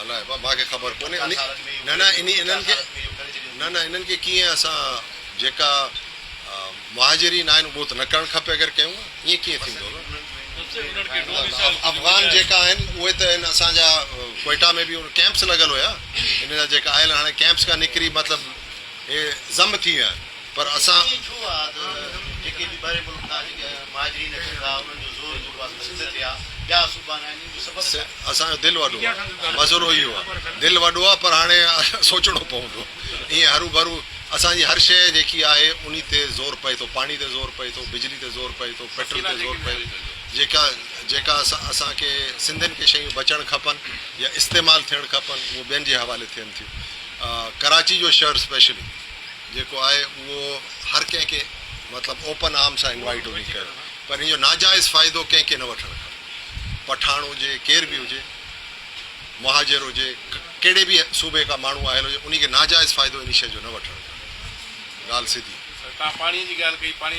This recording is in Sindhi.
الاء با مان کي خبر ڪونهي انهي نه نه انهي انهن کي نه نه انهن کي ڪيئن اسان جيڪا مهاجرين آهن اهو ته نه ڪرڻ کپي اگر ڪيون ها ائين ڪيئن ٿيندو نه افغان جيڪا آهن اهي ته ان اسان جا ڪوئيٽا ۾ به ڪيمپس لڳل هيا انهن جا جيڪا آيل هاڻي ڪيمپس کان نڪري مطلب هي ضم ٿي ويا آهن پر اسان ڪي ڇو آ ته جيڪي به ٻاهرين ملڪ کان جيڪي مهاجرين اچن ٿا انهن جو زور جيڪو آ سندس سنڌ تي آ ٻيا صوبا ناهن انهن جو سبب ڇا آ؟ اسان جو دل وڏو آ مسئلو اهو آ دل وڏو آ پر هاڻي سوچڻو پوندو ائين هروڀرو اسان جي هر شئي جيڪي آهي انهي تي زور پئي ٿو پاڻي تي زور پئي ٿو بجلي تي زور پئي ٿو پيٽرل تي زور پئي جيڪا جيڪا اسان کي سنڌين کي شيون بچڻ کپن يا استعمال ٿيڻ کپن اهو ٻين جي حوالي ٿين ٿيون ڪراچي جو شهر اسپيشلي جيڪو آهي اهو هر ڪنهن کي مطلب اوپن آرم سان انوائيٽ هجي ڪيو پر ان جو ناجائز فائدو ڪنهن کي نه وٺڻ کپي پٺاڻ هجي ڪير به هجي مهاجر هجي ڪهڙي به صوبي کا ماڻهو آيل هجي انهي کي ناجائز فائدو انهي شي جو نه وٺڻ کپي ڳالهه سڌي. سر توهان پاڻي جي ڳالهه ڪئي پاڻي.